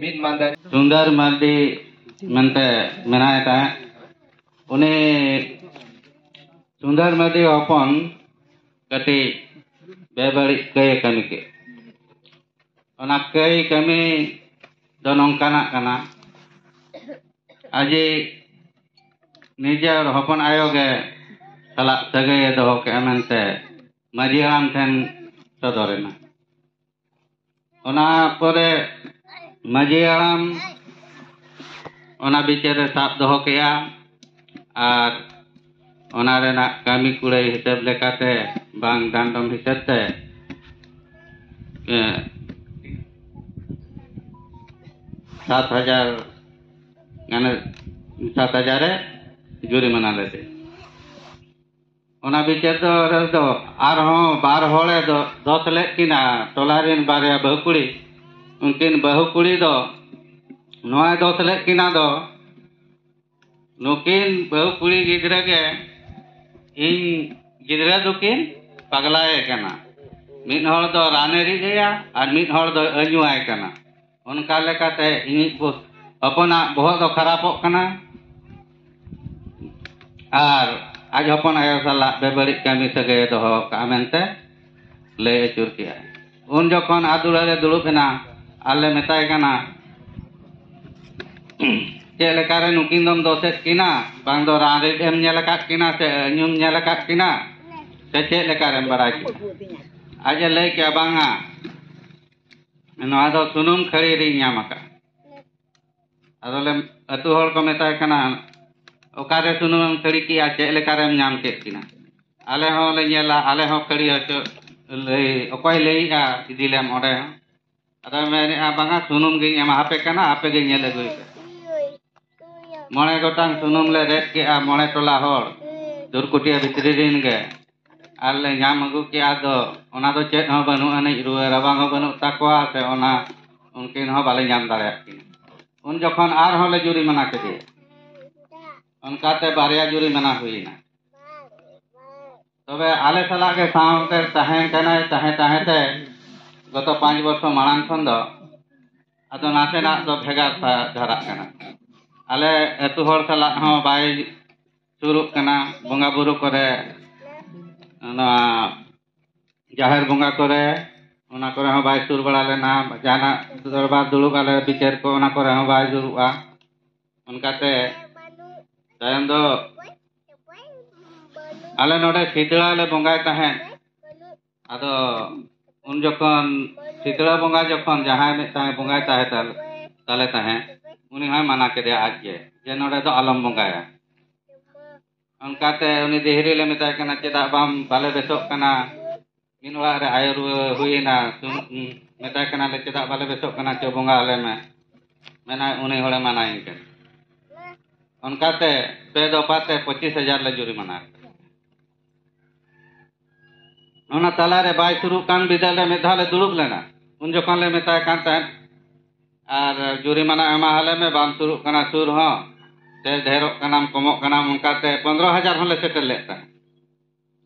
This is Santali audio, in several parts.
ᱢᱤᱫ ᱢᱟᱱᱫᱟᱨᱤ ᱥᱩᱱᱫᱚᱨ ᱢᱟᱨᱰᱤ ᱢᱮᱱᱛᱮ ᱢᱮᱱᱟᱭ ᱛᱟᱦᱮᱸᱫ ᱩᱱᱤ ᱥᱩᱱᱫᱚᱨ ᱢᱟᱨᱰᱤ ᱦᱚᱯᱚᱱ ᱠᱟᱹᱴᱤᱡ ᱵᱮᱵᱟᱹᱲᱤᱡ ᱠᱟᱹᱭ ᱠᱟᱹᱢᱤ ᱠᱮᱫ ᱚᱱᱟ ᱠᱟᱹᱭ ᱠᱟᱹᱢᱤ ᱫᱚ ᱱᱚᱝᱠᱟᱱᱟᱜ ᱠᱟᱱᱟ ᱟᱡᱤ ᱱᱤᱡᱮᱨ ᱦᱚᱯᱚᱱ ᱟᱭᱳ ᱜᱮ ᱥᱟᱞᱟᱜ ᱥᱟᱹᱜᱟᱹᱭᱮ ᱫᱚᱦᱚ ᱠᱮᱫᱼᱟ ᱢᱮᱱᱛᱮ ᱢᱟᱺᱡᱷᱤ ᱦᱟᱲᱟᱢ ᱴᱷᱮᱱ ᱥᱚᱫᱚᱨᱮᱱᱟ ᱚᱱᱟ ᱯᱚᱨᱮ ᱢᱟᱺᱡᱷᱤ ᱦᱟᱲᱟᱢ ᱚᱱᱟ ᱵᱤᱪᱟᱹᱨᱮ ᱥᱟᱵ ᱫᱚᱦᱚ ᱠᱮᱜᱼᱟ ᱟᱨ ᱚᱱᱟ ᱨᱮᱱᱟᱜ ᱠᱟᱹᱢᱤ ᱠᱩᱲᱟᱹᱭ ᱦᱤᱥᱟᱹᱵ ᱞᱮᱠᱟᱛᱮ ᱵᱟᱝ ᱰᱟᱸᱰᱚᱢ ᱦᱤᱥᱟᱹᱵ ᱛᱮ ᱥᱟᱛ ᱦᱟᱡᱟᱨ ᱜᱟᱱᱮ ᱥᱟᱛ ᱦᱟᱡᱟᱨᱮ ᱡᱩᱨᱤᱢᱟᱱᱟ ᱞᱮᱫᱮᱭᱟ ᱚᱱᱟ ᱵᱤᱪᱟᱹᱨ ᱫᱚ ᱨᱮᱫᱚ ᱟᱨᱦᱚᱸ ᱵᱟᱨ ᱦᱚᱲᱮ ᱫᱚ ᱫᱚᱥ ᱞᱮᱫ ᱠᱤᱱᱟ ᱴᱚᱞᱟ ᱨᱮᱱ ᱵᱟᱨᱭᱟ ᱵᱟᱹᱦᱩ ᱠᱩᱲᱤ ᱩᱱᱠᱤᱱ ᱵᱟᱹᱦᱩ ᱠᱩᱲᱤ ᱫᱚ ᱱᱚᱣᱟᱭ ᱫᱚᱥ ᱞᱮᱫ ᱠᱤᱱᱟ ᱫᱚ ᱱᱩᱠᱤᱱ ᱵᱟᱹᱦᱩ ᱠᱩᱲᱤ ᱜᱤᱫᱽᱨᱟᱹ ᱜᱮ ᱤᱧ ᱜᱤᱫᱽᱨᱟᱹ ᱫᱚᱠᱤᱱ ᱯᱟᱜᱽᱞᱟᱭᱮ ᱠᱟᱱᱟ ᱢᱤᱫ ᱦᱚᱲ ᱫᱚ ᱨᱟᱱᱮ ᱨᱤᱫ ᱟᱭᱟ ᱟᱨ ᱢᱤᱫ ᱦᱚᱲ ᱫᱚᱭ ᱟᱹᱧᱩᱣᱟᱭ ᱠᱟᱱᱟ ᱚᱱᱠᱟ ᱞᱮᱠᱟᱛᱮ ᱤᱧᱤᱡ ᱦᱚᱯᱚᱱᱟᱜ ᱵᱚᱦᱚᱜ ᱫᱚ ᱠᱷᱟᱨᱟᱯᱚᱜ ᱠᱟᱱᱟ ᱟᱨ ᱟᱡ ᱦᱚᱯᱚᱱ ᱟᱭᱳ ᱥᱟᱞᱟᱜ ᱵᱮᱵᱟᱹᱲᱤᱡ ᱠᱟᱹᱢᱤ ᱥᱟᱹᱜᱟᱹᱭ ᱫᱚᱦᱚ ᱠᱟᱜᱼᱟ ᱢᱮᱱᱛᱮ ᱞᱟᱹᱭ ᱟᱹᱪᱩᱨ ᱠᱮᱜᱼᱟᱭ ᱩᱱ ᱡᱚᱠᱷᱚᱱ ᱟᱫᱩᱲᱟᱹ ᱨᱮ ᱫᱩᱲᱩᱵ ᱮᱱᱟ ᱟᱨ ᱞᱮ ᱢᱮᱛᱟᱭ ᱠᱟᱱᱟ ᱪᱮᱫ ᱞᱮᱠᱟᱨᱮ ᱱᱩᱠᱤᱱ ᱫᱚᱢ ᱫᱚᱥᱮᱫ ᱠᱤᱱᱟ ᱵᱟᱝ ᱫᱚ ᱨᱟᱱ ᱨᱤᱫ ᱮᱢ ᱧᱮᱞ ᱟᱠᱟᱫ ᱠᱤᱱᱟ ᱥᱮ ᱧᱩᱢ ᱧᱮᱞ ᱟᱠᱟᱫ ᱠᱤᱱᱟ ᱥᱮ ᱪᱮᱫ ᱞᱮᱠᱟᱨᱮᱢ ᱵᱟᱲᱟᱭ ᱠᱤᱱᱟ ᱟᱡ ᱮ ᱞᱟᱹᱭ ᱠᱮᱜᱼᱟ ᱵᱟᱝᱟ ᱱᱚᱣᱟ ᱫᱚ ᱥᱩᱱᱩᱢ ᱠᱷᱟᱹᱲᱤ ᱨᱤᱧ ᱧᱟᱢ ᱟᱠᱟᱫᱼᱟ ᱟᱫᱚᱞᱮ ᱟᱹᱛᱩ ᱦᱚᱲ ᱠᱚ ᱢᱮᱛᱟᱭ ᱠᱟᱱᱟ ᱚᱠᱟᱨᱮ ᱥᱩᱱᱩᱢᱮᱢ ᱠᱷᱟᱹᱲᱤ ᱠᱮᱜᱼᱟ ᱪᱮᱫ ᱞᱮᱠᱟᱨᱮᱢ ᱧᱟᱢ ᱠᱮᱫ ᱠᱤᱱᱟ ᱟᱞᱮ ᱦᱚᱸᱞᱮ ᱧᱮᱞᱟ ᱟᱞᱮ ᱦᱚᱸ ᱠᱷᱟᱹᱲᱤ ᱦᱚᱪᱚ ᱞᱟᱹᱭ ᱚᱠᱚᱭ ᱞᱟᱹᱭᱮᱜᱼᱟ ᱤᱫᱤᱞᱮᱢ ᱚᱸᱰᱮ ᱦᱚᱸ ᱟᱫᱚ ᱢᱮᱱᱮᱜᱼᱟ ᱵᱟᱝᱟ ᱥᱩᱱᱩᱢ ᱜᱤᱧ ᱮᱢᱟ ᱟᱯᱮ ᱠᱟᱱᱟ ᱟᱯᱮ ᱜᱮ ᱧᱮᱞ ᱟᱹᱜᱩᱭ ᱯᱮ ᱢᱚᱬᱮ ᱜᱚᱴᱟᱝ ᱥᱩᱱᱩᱢ ᱞᱮ ᱨᱮᱫ ᱠᱮᱜᱼᱟ ᱢᱚᱬᱮ ᱴᱚᱞᱟ ᱦᱚᱲ ᱫᱩᱨᱠᱩᱴᱤᱭᱟᱹ ᱵᱷᱤᱛᱨᱤ ᱨᱤᱱ ᱜᱮ ᱟᱨ ᱞᱮ ᱧᱟᱢ ᱟᱹᱜᱩ ᱠᱮᱜᱼᱟ ᱟᱫᱚ ᱚᱱᱟ ᱫᱚ ᱪᱮᱫ ᱦᱚᱸ ᱵᱟᱹᱱᱩᱜ ᱟᱹᱱᱤᱡ ᱨᱩᱣᱟᱹ ᱨᱟᱵᱟᱝ ᱦᱚᱸ ᱵᱟᱹᱱᱩᱜ ᱛᱟᱠᱚᱣᱟ ᱥᱮ ᱚᱱᱟ ᱩᱱᱠᱤᱱ ᱦᱚᱸ ᱵᱟᱞᱮ ᱧᱟᱢ ᱫᱟᱲᱮᱭᱟᱜ ᱠᱤᱱᱟ ᱩᱱ ᱡᱚᱠᱷᱚᱱ ᱟᱨᱦᱚᱸ ᱞᱮ ᱡᱩᱨᱤᱢᱟᱱᱟ ᱠᱮᱫᱮᱭᱟ ᱚᱱᱠᱟᱛᱮ ᱵᱟᱨᱭᱟ ᱡᱩᱨᱤᱢᱟᱱᱟ ᱦᱩᱭᱮᱱᱟ ᱛᱚᱵᱮ ᱟᱞᱮ ᱥᱟᱞᱟᱜ ᱜᱮ ᱥᱟᱶᱛᱮ ᱛᱟᱦᱮᱸ ᱠᱟᱱᱟᱭ ᱛᱟᱦᱮᱸ ᱛᱟᱦᱮᱸ ᱛᱮ ᱜᱚᱛᱚ ᱯᱟᱸᱪ ᱵᱚᱪᱷᱚᱨ ᱢᱟᱲᱟᱝ ᱠᱷᱚᱱ ᱫᱚ ᱟᱫᱚ ᱱᱟᱥᱮᱱᱟᱜ ᱫᱚ ᱵᱷᱮᱜᱟᱨ ᱫᱷᱟᱨᱟᱜ ᱠᱟᱱᱟ ᱟᱞᱮ ᱟᱹᱛᱩ ᱦᱚᱲ ᱥᱟᱞᱟᱜ ᱦᱚᱸ ᱵᱟᱭ ᱥᱩᱨᱩᱜ ᱠᱟᱱᱟ ᱵᱚᱸᱜᱟ ᱵᱩᱨᱩ ᱠᱚᱨᱮ ᱱᱚᱣᱟ ᱡᱟᱦᱮᱨ ᱵᱚᱸᱜᱟ ᱠᱚᱨᱮ ᱚᱱᱟ ᱠᱚᱨᱮ ᱦᱚᱸ ᱵᱟᱭ ᱥᱩᱨ ᱵᱟᱲᱟ ᱞᱮᱱᱟ ᱡᱟᱦᱟᱱᱟᱜ ᱫᱚᱨᱵᱟᱨ ᱫᱩᱲᱩᱵ ᱟᱞᱮ ᱵᱤᱪᱟᱹᱨ ᱠᱚ ᱚᱱᱟ ᱠᱚᱨᱮ ᱦᱚᱸ ᱵᱟᱭ ᱫᱩᱲᱩᱵᱼᱟ ᱚᱱᱠᱟᱛᱮ ᱛᱟᱭᱚᱢ ᱫᱚ ᱟᱞᱮ ᱱᱚᱰᱮ ᱥᱤᱛᱲᱟ ᱞᱮ ᱵᱚᱸᱜᱟᱭ ᱛᱟᱦᱮᱸᱫ ᱟᱫᱚ ᱩᱱ ᱡᱚᱠᱷᱚᱱ ᱥᱤᱛᱲᱟ ᱵᱚᱸᱜᱟ ᱡᱚᱠᱷᱚᱱ ᱡᱟᱦᱟᱸᱭ ᱢᱤᱫᱴᱟᱝ ᱵᱚᱸᱜᱟᱭ ᱛᱟᱦᱮᱸ ᱛᱟᱞᱮ ᱛᱟᱦᱮᱸᱫ ᱩᱱᱤ ᱦᱚᱸᱭ ᱢᱟᱱᱟ ᱠᱮᱫᱮᱭᱟ ᱟᱡ ᱜᱮ ᱡᱮ ᱱᱚᱰᱮ ᱫᱚ ᱟᱞᱚᱢ ᱵᱚᱸᱜᱟᱭᱟ ᱚᱱᱠᱟᱛᱮ ᱩᱱᱤ ᱫᱤᱦᱨᱤ ᱞᱮ ᱢᱮᱛᱟᱭ ᱠᱟᱱᱟ ᱪᱮᱫᱟᱜ ᱵᱟᱢ ᱵᱟᱞᱮ ᱵᱮᱥᱚᱜ ᱠᱟᱱᱟ ᱢᱤᱫ ᱚᱲᱟᱜ ᱨᱮ ᱟᱭᱳ ᱨᱩᱣᱟᱹ ᱦᱩᱭᱮᱱᱟ ᱢᱮᱛᱟᱭ ᱠᱟᱱᱟᱞᱮ ᱪᱮᱫᱟᱜ ᱵᱟᱞᱮ ᱵᱮᱥᱚᱜ ᱠᱟᱱᱟ ᱪᱚ ᱵᱚᱸᱜᱟ ᱟᱞᱮ ᱢᱮ ᱢᱮᱱᱟᱭ ᱩᱱᱤ ᱦᱚᱲᱮ ᱢᱟᱱᱟᱭᱤᱧ ᱠᱟᱱᱟ ᱚᱱᱠᱟᱛᱮ ᱯᱮ ᱫᱚᱯᱷᱟᱛᱮ ᱯᱚᱸᱪᱤᱥ ᱦᱟᱡᱟᱨ ᱞᱮ ᱡᱩᱨᱤᱢᱟᱱᱟ ᱚᱱᱟ ᱛᱟᱞᱟᱨᱮ ᱵᱟᱭ ᱥᱩᱨᱩᱜ ᱠᱟᱱ ᱵᱤᱫᱟᱹᱞ ᱨᱮ ᱢᱤᱫ ᱫᱷᱟᱣ ᱞᱮ ᱫᱩᱲᱩᱵ ᱞᱮᱱᱟ ᱩᱱ ᱡᱚᱠᱷᱚᱱ ᱞᱮ ᱢᱮᱛᱟᱭ ᱠᱟᱱ ᱛᱟᱦᱮᱸᱫ ᱟᱨ ᱡᱩᱨᱤᱢᱟᱱᱟ ᱮᱢᱟ ᱟᱞᱮ ᱢᱮ ᱵᱟᱢ ᱥᱩᱨᱩᱜ ᱠᱟᱱᱟ ᱥᱩᱨ ᱦᱚᱸ ᱥᱮ ᱰᱷᱮᱨᱚᱜ ᱠᱟᱱᱟᱢ ᱠᱚᱢᱚᱜ ᱠᱟᱱᱟᱢ ᱚᱱᱠᱟᱛᱮ ᱯᱚᱱᱨᱚ ᱦᱟᱡᱟᱨ ᱦᱚᱸᱞᱮ ᱥᱮᱴᱮᱨ ᱞᱮᱫ ᱛᱟᱦᱮᱸᱫ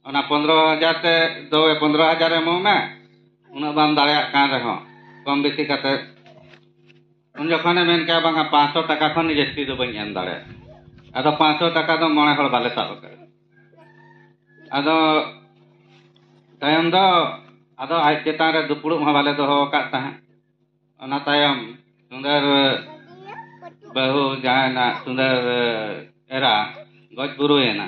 ᱚᱱᱟ ᱯᱚᱱᱨᱚ ᱦᱟᱡᱟᱨ ᱛᱮ ᱫᱚ ᱯᱚᱱᱨᱚ ᱦᱟᱡᱟᱨ ᱮᱢᱚᱜ ᱢᱮ ᱩᱱᱟᱹᱜ ᱵᱟᱢ ᱫᱟᱲᱮᱭᱟᱜ ᱠᱟᱱ ᱨᱮᱦᱚᱸ ᱠᱚᱢ ᱵᱮᱥᱤ ᱠᱟᱛᱮ ᱩᱱ ᱡᱚᱠᱷᱚᱱᱮ ᱢᱮᱱ ᱠᱮᱜᱼᱟ ᱵᱟᱝᱟ ᱯᱟᱸᱪᱥᱚ ᱴᱟᱠᱟ ᱠᱷᱚᱱ ᱡᱟᱹᱥᱛᱤ ᱫᱚ ᱵᱟᱹᱧ ᱮᱢ ᱫᱟᱲᱮᱭᱟᱜᱼᱟ ᱟᱫᱚ ᱯᱟᱸᱪᱥᱚ ᱴᱟᱠᱟ ᱫᱚ ᱢᱚᱬᱮ ᱦᱚᱲ ᱵᱟᱞᱮ ᱥᱟᱵ ᱟᱠᱟᱫᱟ ᱟᱫᱚ ᱛᱟᱭᱚᱢ ᱫᱚ ᱟᱫᱚ ᱟᱡ ᱪᱮᱛᱟᱱ ᱨᱮ ᱫᱩᱯᱲᱩᱵ ᱦᱚᱸ ᱵᱟᱞᱮ ᱫᱚᱦᱚ ᱟᱠᱟᱫ ᱛᱟᱦᱮᱸᱫ ᱚᱱᱟ ᱛᱟᱭᱚᱢ ᱥᱩᱸᱫᱚᱨ ᱵᱟᱹᱦᱩ ᱡᱟᱦᱟᱸᱭ ᱱᱟᱜ ᱥᱩᱸᱫᱚᱨ ᱮᱨᱟ ᱜᱚᱡ ᱜᱩᱨᱩᱭᱮᱱᱟ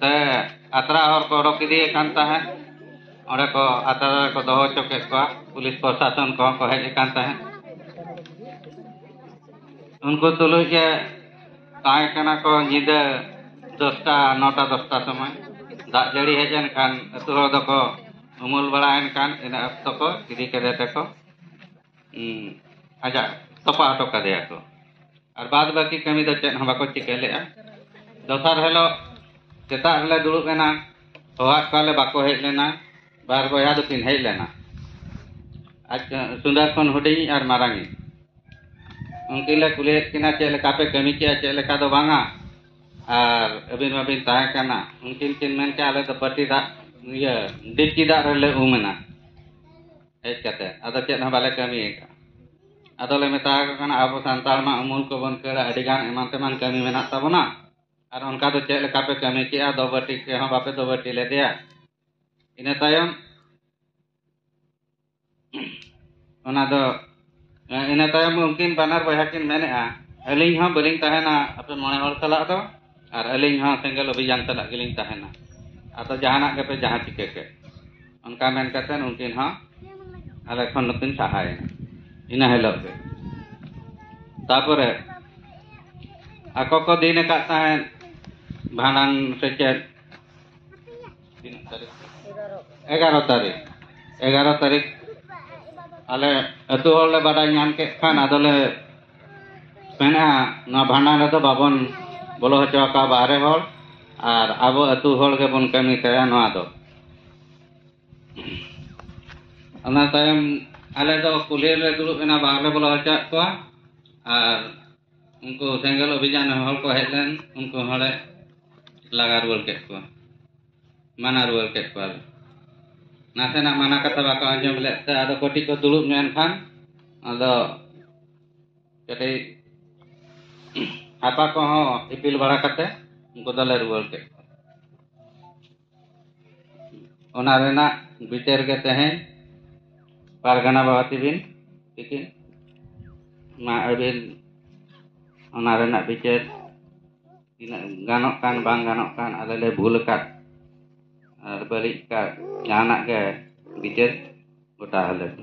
ᱥᱮ ᱟᱛᱨᱟ ᱦᱚᱲ ᱠᱚ ᱚᱰᱚᱠ ᱤᱫᱤᱭᱮ ᱠᱟᱱ ᱛᱟᱦᱮᱸᱫ ᱚᱸᱰᱮ ᱠᱚ ᱟᱛᱨᱟ ᱨᱮᱠᱚ ᱫᱚᱦᱚ ᱦᱚᱪᱚ ᱠᱮᱫ ᱠᱚᱣᱟ ᱯᱩᱞᱤᱥ ᱯᱨᱚᱥᱟᱥᱚᱱ ᱠᱚᱦᱚᱸ ᱠᱚ ᱦᱮᱡ ᱟᱠᱟᱱ ᱛᱟᱦᱮᱸᱫ ᱩᱱᱠᱩ ᱛᱩᱞᱩᱡ ᱜᱮ ᱛᱟᱦᱮᱸ ᱠᱟᱱᱟ ᱠᱚ ᱧᱤᱫᱟᱹ ᱫᱚᱥᱴᱟ ᱱᱚᱴᱟ ᱫᱚᱥᱴᱟ ᱥᱚᱢᱚᱭ ᱫᱟᱜ ᱡᱟᱹᱲᱤ ᱦᱮᱡ ᱮᱱ ᱠᱷᱟᱱ ᱟᱹᱛᱩ ᱦᱚᱲ ᱫᱚᱠᱚ ᱩᱢᱩᱞ ᱵᱟᱲᱟᱭᱮᱱ ᱠᱷᱟᱱ ᱤᱱᱟᱹ ᱚᱠᱛᱚ ᱠᱚ ᱤᱫᱤ ᱠᱮᱫᱮ ᱛᱮᱠᱚ ᱟᱡᱟᱜ ᱛᱚᱯᱟ ᱦᱚᱴᱚ ᱠᱟᱫᱮᱭᱟ ᱠᱚ ᱟᱨ ᱵᱟᱫ ᱵᱟᱹᱠᱤ ᱠᱟᱹᱢᱤ ᱫᱚ ᱪᱮᱫ ᱦᱚᱸ ᱵᱟᱠᱚ ᱪᱤᱠᱟᱹ ᱞᱮᱫᱼᱟ ᱫᱚᱥᱟᱨ ᱦᱤᱞᱳᱜ ᱥᱮᱛᱟᱜ ᱨᱮᱞᱮ ᱫᱩᱲᱩᱵ ᱮᱱᱟ ᱦᱚᱦᱚᱣᱟᱫ ᱠᱚᱣᱟᱞᱮ ᱵᱟᱠᱚ ᱦᱮᱡ ᱞᱮᱱᱟ ᱵᱟᱨ ᱵᱚᱭᱦᱟ ᱫᱚᱠᱤᱱ ᱦᱮᱡ ᱞᱮᱱᱟ ᱟᱡ ᱥᱩᱱᱫᱚᱨ ᱠᱷᱚᱱ ᱦᱩᱰᱤᱧ ᱟᱨ ᱢᱟᱨᱟᱝᱤᱡ ᱩᱱᱠᱤᱱ ᱞᱮ ᱠᱩᱞᱤᱭᱮᱫ ᱠᱤᱱᱟ ᱪᱮᱫ ᱞᱮᱠᱟ ᱯᱮ ᱠᱟᱹᱢᱤ ᱠᱮᱜᱼᱟ ᱪᱮᱫ ᱞᱮᱠᱟ ᱫᱚ ᱵᱟᱝᱟ ᱟᱨ ᱟᱹᱵᱤᱱ ᱢᱟᱵᱤᱱ ᱛᱟᱦᱮᱸ ᱠᱟᱱᱟ ᱩᱱᱠᱤᱱ ᱠᱤᱱ ᱢᱮᱱ ᱠᱮᱜᱼᱟ ᱟᱞᱮ ᱫᱚ ᱯᱟᱹᱴᱤ ᱫᱟᱜ ᱤᱭᱟᱹ ᱰᱤᱯᱪᱤ ᱫᱟᱜ ᱨᱮᱞᱮ ᱩᱢ ᱮᱱᱟ ᱦᱮᱡ ᱠᱟᱛᱮ ᱟᱫᱚ ᱪᱮᱫ ᱦᱚᱸ ᱵᱟᱞᱮ ᱠᱟᱹᱢᱤ ᱟᱠᱟᱫ ᱟᱫᱚ ᱞᱮ ᱢᱮᱛᱟ ᱠᱚ ᱠᱟᱱᱟ ᱟᱵᱚ ᱥᱟᱱᱛᱟᱲ ᱢᱟ ᱩᱢᱩᱞ ᱠᱚᱵᱚᱱ ᱠᱷᱟᱹᱲᱟ ᱟᱹᱰᱤ ᱜᱟᱱ ᱮᱢᱟᱱ ᱛᱮᱢᱟᱱ ᱠᱟᱹᱢᱤ ᱢᱮᱱᱟᱜ ᱛᱟᱵᱚᱱᱟ ᱟᱨ ᱚᱱᱠᱟ ᱫᱚ ᱪᱮᱫ ᱞᱮᱠᱟ ᱯᱮ ᱠᱟᱹᱢᱤ ᱠᱮᱜᱼᱟ ᱫᱚᱵᱟᱹᱴᱤ ᱠᱮ ᱦᱚᱸ ᱵᱟᱯᱮ ᱫᱚᱵᱟᱹᱴᱤ ᱞᱮᱫᱮᱭᱟ ᱤᱱᱟᱹ ᱛᱟᱭᱚᱢ ᱚᱱᱟ ᱫᱚ ᱤᱱᱟᱹ ᱛᱟᱭᱚᱢ ᱩᱱᱠᱤᱱ ᱵᱟᱱᱟᱨ ᱵᱚᱭᱦᱟ ᱠᱤᱱ ᱢᱮᱱᱮᱜᱼᱟ ᱟᱹᱞᱤᱧ ᱦᱚᱸ ᱵᱟᱹᱞᱤᱧ ᱛᱟᱦᱮᱱᱟ ᱟᱯᱮ ᱢᱚᱬᱮ ᱦᱚᱲ ᱥᱟᱞᱟᱜ ᱫᱚ ᱟᱨ ᱟᱹᱞᱤᱧ ᱦᱚᱸ ᱥᱮᱸᱜᱮᱞ ᱚᱵᱷᱤᱡᱟᱱ ᱥᱟᱞᱟᱜ ᱜᱮᱞᱤᱧ ᱛᱟᱦᱮᱱᱟ ᱟᱫᱚ ᱡᱟᱦᱟᱱᱟᱜ ᱜᱮᱯᱮ ᱡᱟᱦᱟᱸ ᱪᱤᱠᱟᱹ ᱠᱮᱫ ᱚᱱᱠᱟ ᱢᱮᱱ ᱠᱟᱛᱮ ᱩᱱᱠᱤᱱ ᱦᱚᱸ ᱟᱞᱮ ᱠᱷᱚᱱ ᱫᱚᱠᱤᱱ ᱥᱟᱦᱟᱭᱮᱱᱟ ᱤᱱᱟᱹ ᱦᱤᱞᱳᱜ ᱜᱮ ᱛᱟᱯᱚᱨᱮ ᱟᱠᱚ ᱠᱚ ᱫᱤᱱ ᱟᱠᱟᱫ ᱛᱟᱦᱮᱸᱫ ᱵᱷᱟᱸᱰᱟᱱ ᱥᱮ ᱪᱮᱫ ᱮᱜᱟᱨᱚ ᱛᱟᱹᱨᱤᱠᱷ ᱮᱜᱟᱨᱚ ᱛᱟᱹᱨᱤᱠᱷ ᱟᱞᱮ ᱟᱹᱛᱩ ᱦᱚᱲ ᱞᱮ ᱵᱟᱰᱟᱭ ᱧᱟᱢ ᱠᱮᱫ ᱠᱷᱟᱱ ᱟᱫᱚᱞᱮ ᱢᱮᱱᱟ ᱱᱚᱣᱟ ᱵᱷᱟᱸᱰᱟᱱ ᱨᱮᱫᱚ ᱵᱟᱵᱚᱱ ᱵᱚᱞᱚ ᱦᱚᱪᱚ ᱟᱠᱚᱣᱟ ᱵᱟᱦᱨᱮ ᱦᱚᱲ ᱟᱨ ᱟᱵᱚ ᱟᱹᱛᱩ ᱦᱚᱲ ᱜᱮᱵᱚᱱ ᱠᱟᱹᱢᱤ ᱛᱟᱭᱟ ᱱᱚᱣᱟ ᱫᱚ ᱚᱱᱟ ᱛᱟᱭᱚᱢ ᱟᱞᱮ ᱫᱚ ᱠᱩᱞᱦᱤ ᱨᱮᱞᱮ ᱫᱩᱲᱩᱵ ᱮᱱᱟ ᱵᱟᱝᱞᱮ ᱵᱚᱞᱚ ᱦᱚᱪᱚᱣᱟᱜ ᱠᱚᱣᱟ ᱟᱨ ᱩᱱᱠᱩ ᱥᱮᱸᱜᱮᱞ ᱚᱵᱷᱤᱡᱟᱱ ᱦᱚᱲ ᱠᱚ ᱦᱮᱡ ᱞᱮᱱ ᱩᱱᱠᱩ ᱦᱚᱲᱮ ᱞᱟᱜᱟ ᱨᱩᱣᱟᱹᱲ ᱠᱮᱫ ᱠᱚᱣᱟ ᱢᱟᱱᱟ ᱨᱩᱣᱟᱹᱲ ᱠᱮᱫ ᱠᱚᱣᱟ ᱱᱟᱥᱮᱱᱟᱜ ᱢᱟᱱᱟ ᱠᱟᱛᱷᱟ ᱵᱟᱠᱚ ᱟᱸᱡᱚᱢ ᱞᱮᱫ ᱛᱮ ᱟᱫᱚ ᱠᱟᱹᱴᱤᱡ ᱠᱚ ᱫᱩᱲᱩᱵ ᱧᱚᱜ ᱮᱱ ᱠᱷᱟᱱ ᱟᱫᱚ ᱠᱟᱹᱴᱤᱡ ᱦᱟᱯᱟ ᱠᱚᱦᱚᱸ ᱤᱯᱤᱞ ᱵᱟᱲᱟ ᱠᱟᱛᱮ ᱩᱱᱠᱩ ᱫᱚᱞᱮ ᱨᱩᱣᱟᱹᱲ ᱠᱮᱫ ᱠᱚᱣᱟ ᱚᱱᱟ ᱨᱮᱱᱟᱜ ᱵᱤᱪᱟᱹᱨ ᱜᱮ ᱛᱮᱦᱮᱧ ᱯᱟᱨᱜᱟᱱᱟ ᱵᱟᱵᱟ ᱛᱤᱵᱤᱱ ᱛᱤᱠᱤᱱ ᱢᱟ ᱟᱹᱵᱤᱱ ᱚᱱᱟ ᱨᱮᱱᱟᱜ ᱵᱤᱪᱟᱹᱨ ᱛᱤᱱᱟᱹᱜ ᱜᱟᱱᱚᱜ ᱠᱟᱱ ᱵᱟᱝ ᱜᱟᱱᱚᱜ ᱠᱟᱱ ᱟᱞᱮ ᱞᱮ ᱵᱷᱩᱞ ᱟᱠᱟᱫ ᱟᱨ ᱵᱟᱹᱲᱤᱡ ᱟᱠᱟᱫ ᱡᱟᱦᱟᱱᱟᱜ ᱜᱮ ᱵᱤᱪᱟᱹᱨ ᱜᱚᱴᱟ ᱟᱞᱮ ᱯᱮ